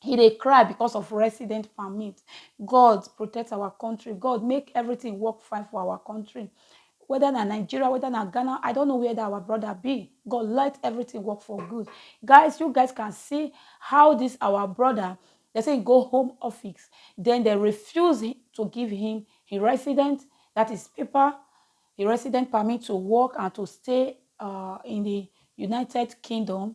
he dey cry because of resident permit god protect our country god make everything work fine for our country whether na nigeria whether na ghana i don't know where that our brother be god let everything work for good guys you guys can see how this our brother they say he go home office then they refuse he- to give him his resident that is paper a resident permit to work and to stay uh, in the United Kingdom.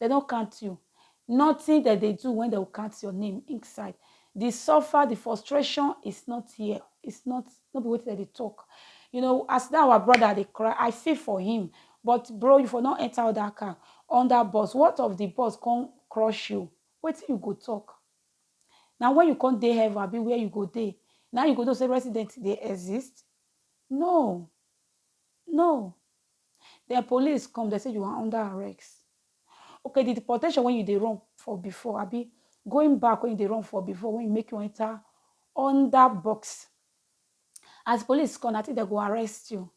Dem no count you. Nothing dem dey do when dem go count your name inside. The suffer, the frustration is not here. It's not, no be wetin dem dey talk. You know, as that our brother dey cry, I feel for him. But bro, you for no enter other car, under bus. What of the bus come crush you? Wetin you go talk? Na when you come dey heaven abi where you go dey, na you go know say resident dey exist? No. No. Then police come, dem say you are under arrest. Okay, the deportation when you dey run for before, abi going back when you dey run for before, when you make you enter under box. As police come, I think they go arrest you.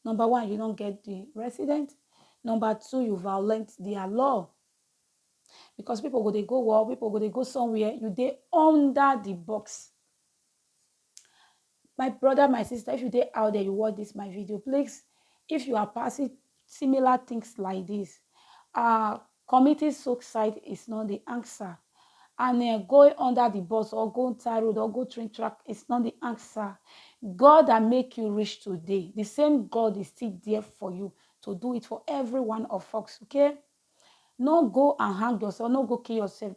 Number one, you don't get the resident. Number two, you violate their law. Because people go they go war, people go they go somewhere, you dey under the box. my brother my sister if you dey out there you watch this my video please if you are passing similar things like this uh committing suicide is not the answer and uh, going under the bus or going tie road or go train track is not the answer god that make you rich today the same god is still there for you to do it for every one of us okay no go and hang yourself no go kill yourself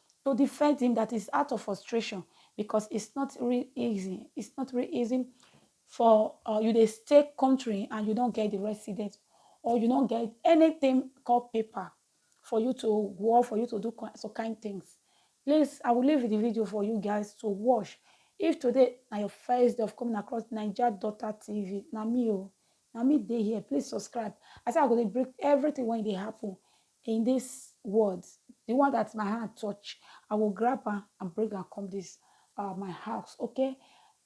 To defend him that is out of frustration because it's not real easy it's not real easy for uh, you dey stay country and you don't get the residence or you don't get anything called paper for you to work, for you to do some kind things. Please, I will leave the video for you guys to watch. If today na your first day of coming across Niger Daughter TV, na me o, oh, na me dey here please subscribe i say i go dey break everything wey dey happen in this world the one that my hand touch i go grab am and bring am come this uh, my house okay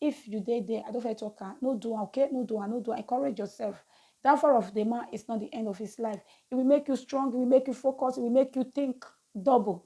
if you dey there i don't fit talk am no do am okay no do am no do am encourage yourself downfall of the man is not the end of his life it will make you strong it will make you focus it will make you think double